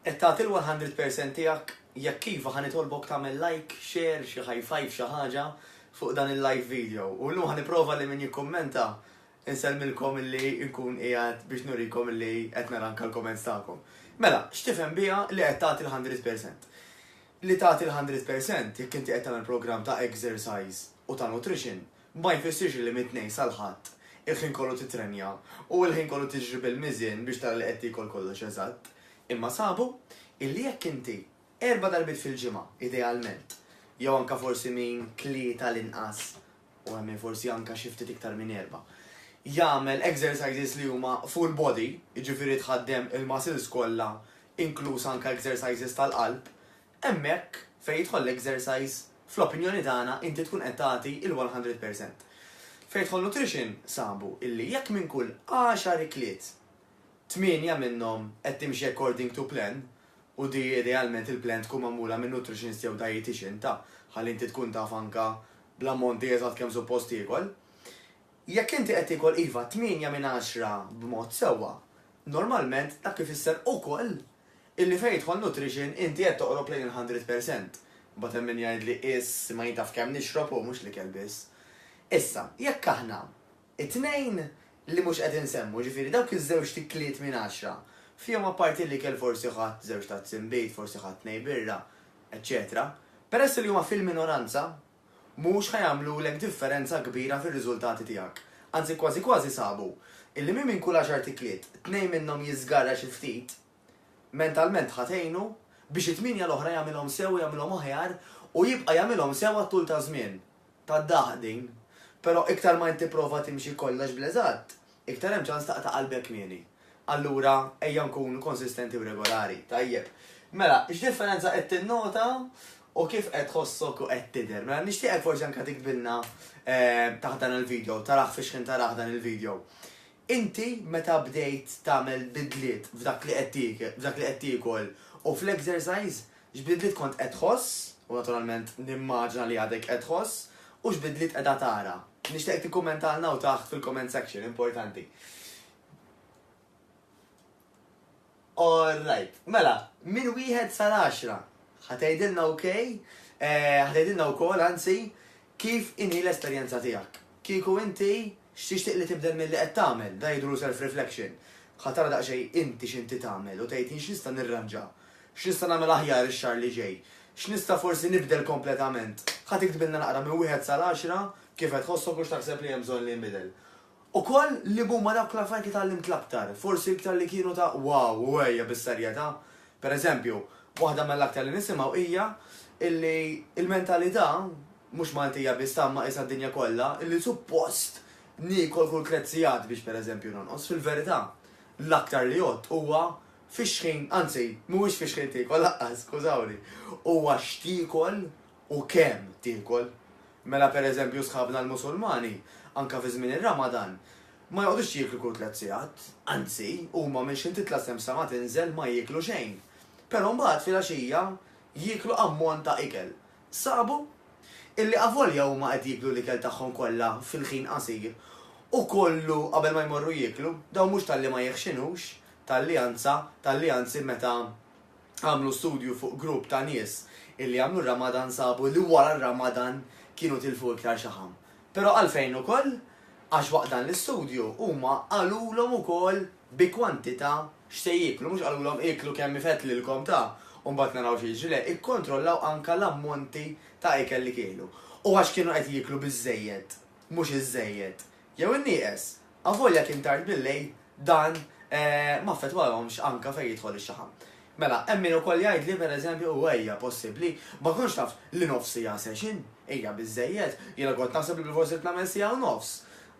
Qed tagħti l-one hundred percent tiegħek? Jekk iva ħa nitolbok tagħmel like, share, xi high five xi ħaġa fuq dan il-live video. U llum ħa nipprova li min jikkummenta insellmilkom illi nkun qiegħed biex nurikom illi qed nara anke l-comments tagħkom. Mela, x'tifhem biha li qed tagħti l-hundred percent? Li tagħti l-hundred percent jekk inti qed tagħmel programm ta' exercise u ta' nutrition ma jfissirx li mit-Tnejn sal-Ħadd il-ħin kollu titrenja u l-ħin kollu tiġri bil-miżien biex tara li qed tiekol kollox eżatt, imma sabu illi jekk inti erba' darbiet fil-ġimgħa, idealment, jew anke forsi min tlieta l-inqas u hemm min forsi anke xi ftit iktar minn erba', jagħmel exercises li huma full body, jiġifieri tħaddem il-muscles kollha inkluż anke exercises tal-qalb, Hemmhekk fejn jidħol l-exercise, fl-opinjoni tagħna inti tkun qed tagħti l-one hundred percent. Fejn jidħol nutrition sabu illi jekk minn kull għaxar ikliet, tmienja minnhom qed timxi according to plan, u di idealment il-plan tkun magħmula minn nutritionist jew dietician ta' ħalli inti tkun taf anke bl-ammonti eżatt kemm suppost tiekol. Jekk inti qed tiekol iva tmienja minn għaxra b'mod sewwa, normalment dak ifisser ukoll illi fejn jidħol nutrition inti qed toqrob lejn il-hundred percent. Imbagħad hemm min jgħidli qies ma jien taf kemm nixrob u mhux l-ikel biss. Issa, jekk aħna t-tnejn li mhux qed insemmu, jiġifieri dawk iż-żewġt ikliet minn għaxra, fihom apparti l-ikel forsi ħadt żewġ tazzi nbid, forsi ħadt tnej birra, eċċetera, peress li huma fil-minoranza, mhux ħa jagħmlulek differenza kbira fir-riżultati tiegħek. Anzi kważi kważi sabu illi min minn kull għaxart ikliet, tnejn minnhom jiżgarra xi ftit, mentalment ħa tgħinu biex it-tmienja l-oħra jagħmilhom sew u jagħmilhom aħjar u jibqa' jagħmilhom sew għat-tul taż-żmien. Tad-daħq din. Però iktar ma int tipprova timxi kollox bl-eżatt, Iktar hemm ċans taqta' qalbek kmieni. Allura, ejja nkunu konsistenti u regolari. Tajjeb. Mela, x'differenza qed tinnota u kif qed tħossok u qed tidher? Mela, nixtieqek forsi anke tiktbilna taħt dan il-video, tarah fi xħin tarah dan il-video. Inti meta bdejt tagħmel bidliet f'dak li qed tiekol u fl-exercise, X'bidliet kont qed tħoss, u naturalment nimmaġina li għadek qed tħoss, u x'bidliet qiegħda tara? Nixtieqek tikkummentalna hawn taħt fil-comment section, importanti. Alright, mela, minn wieħed sal-għaxra, ħa tgħidilna ok, eh, ħa tgħidilna wkoll anzi kif inhi l-esperjenza tiegħek. Kieku inti x'tixtieq li tibdel milli qed tagħmel, da jidru self-reflection. Ħa tara daqsxejn inti x'inti tagħmel u tgħid jien x'nista' nirranġa X'nista' nagħmel aħjar ix-xahar li ġej? X'nista' forsi nibdel kompletament? Ħa tiktbilna naqra minn wieħed sal-għaxra kif qed tħosshok u x'taħseb li hemm bżonn li jinbidel. Ukoll liema huma dawk l-affarijiet li tgħallimt l-aktar, forsi l-iktar li kienu ta' wow u għejja bis-serjetà. Per eżempju, waħda mill-aktar li nisimgħu hija illi l-mentalità, mhux Maltija biss ta' imma qisha d-dinja kollha, illi suppost niekol kull krezzijat biex per eżempju nonqos, fil-verità l-aktar li jgħodd huwa Fix-xħin, anzi, mhuwiex fix-xħin tiekol laqqas, skużawni. Huwa x'tiekol u kemm tiekol. Mela pereżempju sħabna l-Musulmani, anke fi żmien ir-Ramadan, ma joqgħodux jieklu kull tliet sigħat, anzi, huma minn xħin titla' xemx sa ma tinżel ma jieklu xejn. Però mbagħad filgħaxija jieklu ammont ta' ikel. Sabu illi avolja huma qed jieklu l-ikel tagħhom kollha fil-ħin qasir u kollu qabel ma jmorru jieklu, dawn mhux talli ma jeħxinux, talli anza, talli anzi meta għamlu studju fuq grupp ta' nies illi għamlu r-Ramadan sabu li wara r-Ramadan kienu tilfu iktar xaħam. Però għalfejn ukoll? Għax waqt dan l-istudju huma qalulhom ukoll bi kwantità x'se jieklu, mhux qalulhom ieklu kemm ifett lilkom ta' u mbagħad naraw xi jiġri, le, ikkontrollaw anke l-ammonti ta' ikel li kielu. U għax kienu qed jieklu biżżejjed, mhux iżżejjed, jew innieqes, avolja kien tard bil-lejl, dan ma affettwahomx anke fejn jidħol ix-xaħam. Mela, hemm min ukoll jgħidli, per eżempju, u ejja, possibbli, ma kontx taf li nofs siegħa session hija biżżejjed, jiena kont naħseb li bilfors ridt nagħmel siegħa u nofs.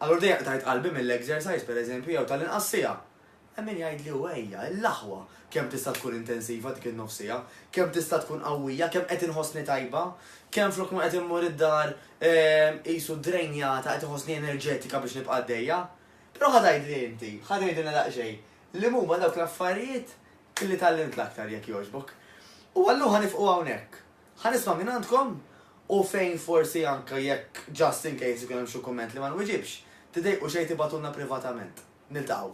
Allura dejjem qtajt qalbi mill-exercise, per eżempju, jew tal-inqas siegħa. Hemm min jgħidli, u ejja, l-aħwa, kemm tista' tkun intensiva dik in-nofs siegħa, kemm tista' tkun qawwija, kemm qed inħossni tajba, kemm flok ma qed immur id-dar qisu drainjata qed inħossni enerġetika biex nibqa' għaddejja. Però ħa tgħidli inti, ħa tgħidilna daqsxejn, Liemuma dawk l-affarijiet illi tgħallimt l-aktar, jekk jogħġbok? U allura ħa nifqu hawnhekk. Ħa nisma' mingħandkom u fejn forsi anke jekk just in case ikun hemm xi kumment li ma nwiġibx, tidejqu xejn tibgħatulna privatament. Niltaqgħu.